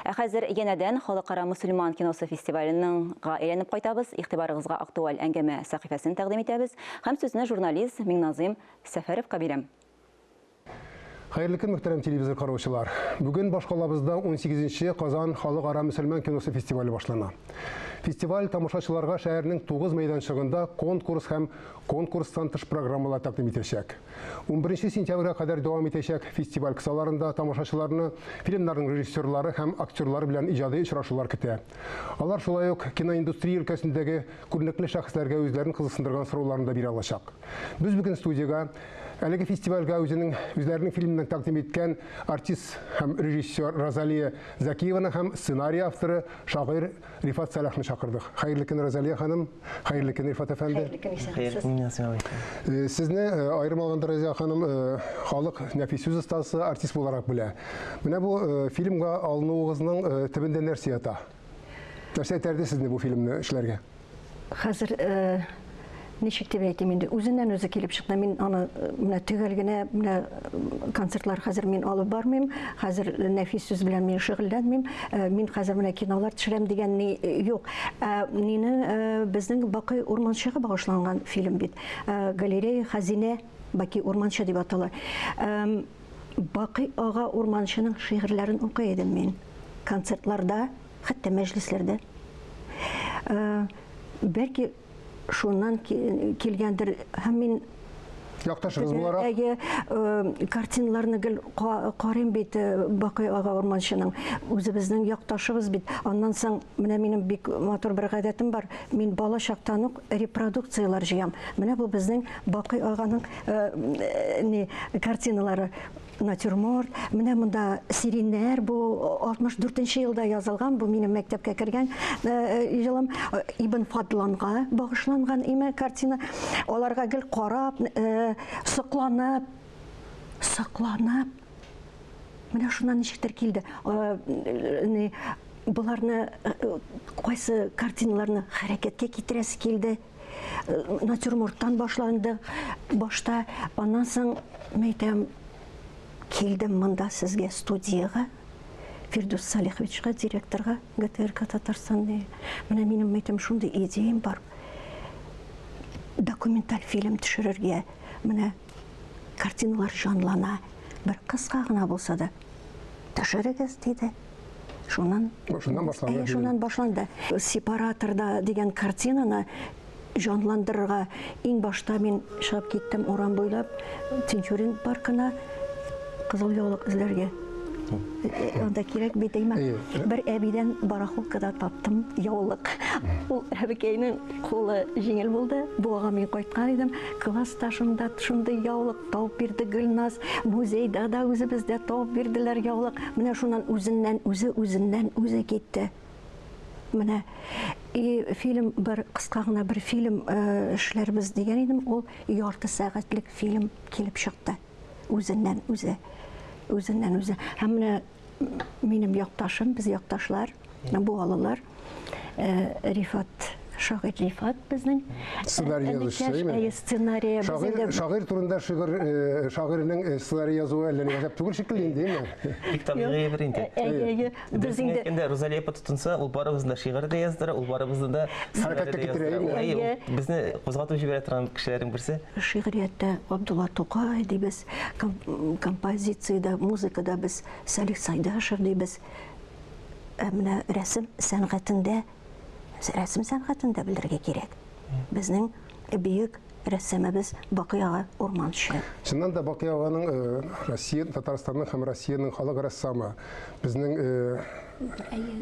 Ә хәзер янәдән Халыкара мөселман киносы фестиваленың га әйләнеп кайтабыз. Игътибарыгызга актуаль әңгәмә сәхифәсен тәкъдим итәбез һәм сүзне журналист Миңназыйм Сәфәровка бирәм. Хәерле көн, мөхтәрәм телевизор караучылар! Бүген башкалабызда унсигез нче Казан халыкара мөселман киносы фестивале башлана. Фестиваль тамашачыларга шәһәрнең тугыз мәйданчыгында конкурс һәм конкурстан тыш программалар тәкъдим итәчәк. Унберенче сентябрьгә кадәр дәвам итәчәк фестиваль кысаларында тамашачыларны фильмнарның режиссерлары һәм актерлары белән иҗади очрашулар көтә. Алар шулай ук киноиндустрия өлкәсендәге күренекле шәхесләргә үзләрен кызыксындырган сорауларны да бирә алачак. Без бүген студиягә әлеге фестивальгә үзенең үзләренең фильмнарын тәкъдим иткән артист һәм режиссер Розалия Закиеваны һәм сценарий авторы, шагыйрь Рифат Сәлахны чакырдык. Хәерле көн, Розалия ханым. Хәерле көн, Рифат әфәнде. Хәерле көн, исәнмесез. Сезне аерым алганда, Розалия ханым, халык нәфис сүз остасы, артист буларак белә. Менә бу фильмга алынуыгызның төбендә нәрсә ята? Нәрсә этәрде сезне бу фильмны эшләргә? Хәзер ничек дип әйтим инде, үзеннән үзе килеп чыкты. Мин аны менә төгәл генә менә концертлар хәзер мин алып бармыйм. Хәзер нәфис сүз белән мин шөгыльләнмим. Мин хәзер менә кинолар төшерәм дигән ни юк. Ә мине безнең Бакый урманчыга багышланган фильм бит. Галерея хәзинә Баки урманчы дип атала. Бакый ага урманчының шигырьләрен укый идем мин концертларда хәтта мәҗлесләрдә. Э, бәлки шуннан килгәндер һәм мин якташыгыз буларак әйе э, картиналарны гел карыйм бит э, бакый ага урманчының үзебезнең якташыбыз бит аннан соң менә минем бик матур бер гадәтем бар мин бала чактан ук репродукцияләр җыям менә бу безнең бакый аганың э, не картиналары натюрморт. Менә монда сириннәр, бу 64 нче елда язылган, бу минем мәктәпкә кергән елым. Э, э, Ибн Фадланга багышланган име картина. Аларга гел карап, э, сокланып, сокланып. Менә шуннан ничектер килде. Боларны кайсы картиналарны хәрәкәткә китерәсе килде. натюрморттан башланды башта аннан соң мәйтәм килдем монда сезгә студиягә фирдүс салиховичка директорга гтрк татарстан менә минем мәйтәм шундый идеям бар документаль фильм төшерергә менә картиналар җанлана бер кыска гына булса да төшерегез диде Шуннан шуннан башланды. Шуннан башланды. Сепараторда дигән картинаны җанландырырга иң башта мин чыгып киттем урам буйлап Тинчурин паркына кызыл яулык эзләргә. Анда кирәк бит әймә. Бер әбидән барахолкада таптым яулык. Ул әбекәйнең кулы җиңел булды. Буага мин кайткан идем. Классташымда шундый яулык Табып бирде Гөлназ, музейда да үзебездә табып бирделәр яулык. Менә шуннан үзеннән үзе үзеннән үзе китте. Менә и фильм бер кыска гына бер фильм э, эшләрбез дигән идем, ул ярты сәгатьлек фильм килеп чыкты. Үзеннән үзе. Үзеннән үзе. Һәм менә Минем якташым, без якташлар, бу алылар. Э, Рифат шагыйрь Рифат безнең сценарий язучы сценарий шагыйрь шагыйрь турында шигырь э, шагыйрьнең э, сценарий язуы әллә ни гәзәп түгел шикелле инде әйме бик табигый бер инде әйе без инде әйткәндә Розалия апа тотынса ул барыбызны да шигырь дә яздыра ул барыбызны да хәрәкәткә китерә безне кузгатып җибәрә торган кешеләрнең берсе шигърияттә Габдулла Тукай дибез Композициядә, музыкада без Салих Сайдашев дибез. Ә менә рәсем сәнгатендә, рәсем сәнгатендә белергә кирәк. Безнең бөек рәссамыбыз Бакый ага Урманчы. Чыннан да Бакый аганың э, Россия, Татарстанның һәм Россиянең халык рәссамы. Безнең э,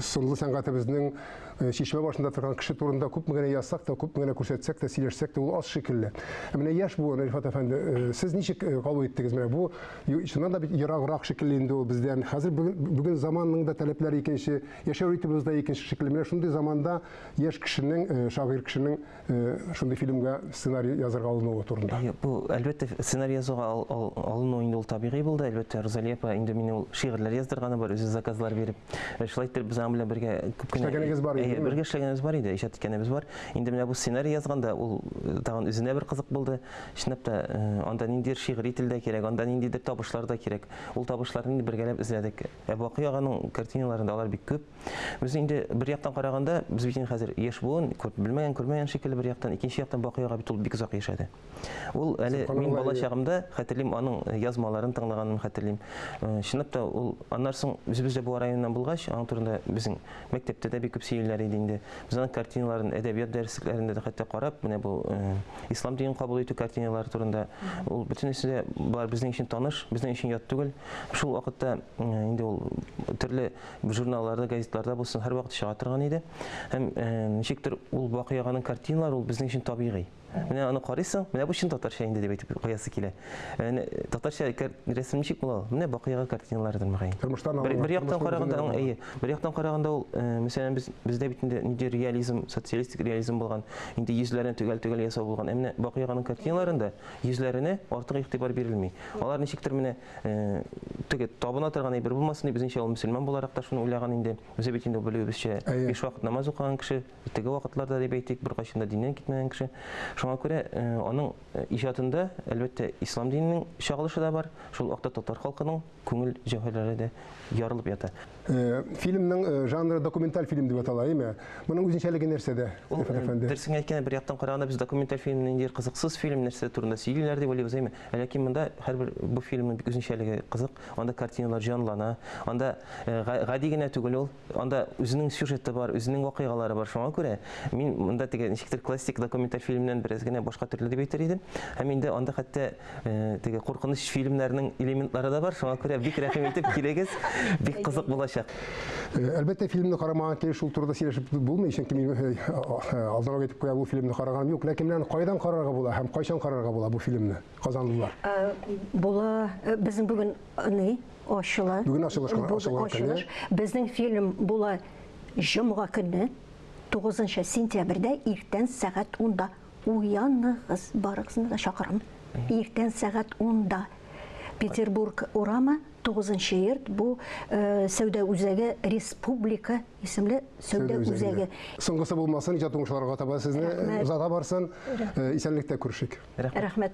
сынлы сәнгатебезнең Э, чишмә башында торган кеше турында күпме генә язсак та, күпме генә күрсәтсәк тә, сөйләшсәк тә, ул аз шикелле. Ә менә яшь буын, Рифат әфәнде, э, сез ничек э, кабул иттегез? Менә бу чыннан да бит ераграк шикелле инде ул бездән. Хәзер бүген заманның да таләпләре икенче, яшәү ритмыбыз да икенче шикелле. Менә шундый заманда яшь кешенең, шагыйрь кешенең Э, шундый фильмга сценарий язырга алынуы турында. Э, бу әлбәттә сценарий язуга алыну инде ул табигый булды. Әлбәттә Розалия апа инде мине ул шигырьләр яздырганы бар, үзе заказлар биреп. Э, шулай итеп без аның белән бергә күп кенә эшләгәнегез бар иде. Бергә эшләгәнебез бар иде, иҗат иткәнебез бар. Инде менә бу сценарий язганда ул тагын үзенә бер кызык булды. Чынлап та анда ниндидер шигъри тел дә кирәк, анда ниндидер табышлар да кирәк. Ул табышларны инде бергәләп эзләдек. Ә Бакый аганың картиналарында алар бик күп. Без инде бер яктан караганда, без бит инде хәзер яшь буын, күп белмәгән, күрмәгән шикелле бер яктан, икенче яктан Бакый ага бит ул бик озак яшәде. Ул әле мин бала чагымда хәтерлим, аның э, язмаларын тыңлаганын хәтерлим. Э, чынлап та ул аннан соң үзебез дә бу районнан булгач, аның турында безнең Мәктәптә дә бик күп сөйлиләр иде инде. Без аның картиналарын әдәбият дәреслекләрендә дә хәтта карап, менә бу э, ислам динен кабул итү картиналары турында. Ул бөтенесе дә болар безнең өчен таныш, безнең өчен ят түгел. Шул вакытта э, инде ул төрле журналларда, газетларда булсын, һәрвакыт чыга торган иде. Һәм э, ничектер ул Бакый аганың картиналары ул безнең өчен табигый. Менә аны карыйсың, менә бу чын татарча инде дип әйтеп куясы килә. Менә татарча рәсем ничек була? Менә бакыйга картиналардыр мөгаен. Тормыштан бер, бер яктан караганда, әйе, бер яктан караганда ул, э, мәсәлән, без бездә бит инде нинди реализм, социалистик реализм булган, инде йөзләрен төгәл-төгәл ясау булган. Ә менә бакыйганың картиналарында йөзләренә артык игътибар бирелми. Алар ничектер менә э, теге табына торган әйбер булмасын дип, безнеңчә ул мөселман буларак та шуны уйлаган инде. Үзе бит инде белүебезчә, биш вакыт намаз укыган кеше. Теге вакытларда дип әйтик, беркайчан да диннән китмәгән кеше. Шуңа күрә аның иҗатында, әлбәттә, ислам диненең чагылышы да бар, шул вакытта татар халкының күңел җәүһәрләре дә ярылып ята. Фильмның жанры документаль фильм дип атала, әйме? Моның үзенчәлеге нәрсәдә? Ул дөресен әйткәндә, бер яктан караганда без документаль фильмны инде кызыксыз фильм нәрсә турында сөйлиләр дип уйлыйбыз, әйме? Ләкин монда һәрбер бу фильмның бик үзенчәлеге кызык. Анда картиналар җанлана. Анда гади генә түгел ул. Анда үзенең сюжеты бар, үзенең вакыйгалары бар. Шуңа күрә мин монда теге ничектер классик документаль фильмнән бераз генә башка төрле дип әйтер идем. Һәм инде анда хәтта э, теге куркыныч фильмнәрнең элементлары да бар. Шуңа күрә бик рәхим итеп килегез. Бик кызык булачак. Э, әлбәттә, фильмны карамаган килеш шул турыда сөйләшеп булмый, чөнки мин э, э, алданрак әйтеп куя, бу фильмны караган юк. Ләкин менә кайдан карарга була һәм кайчан карарга була бу фильмны, казанлылар? Була, безнең бүген ни? ачыла. Бүген ачылыш кына, Бүген ачылган көне. ачылыш. Безнең фильм була җомга көнне, 9 сентябрьдә, иртән сәгать 10-да. Уяныгыз, барыгызны да чакырам. Иртән сәгать 10-да. Петербург урамы, 9 йорт, бу э, сәүдә үзәге, республика исемле сәүдә үзәге. Соңгысы булмасын, иҗат уңышларга таба сезне Рәхмәт. озата барсын. Э, Исәнлектә күрешик. Рәхмәт.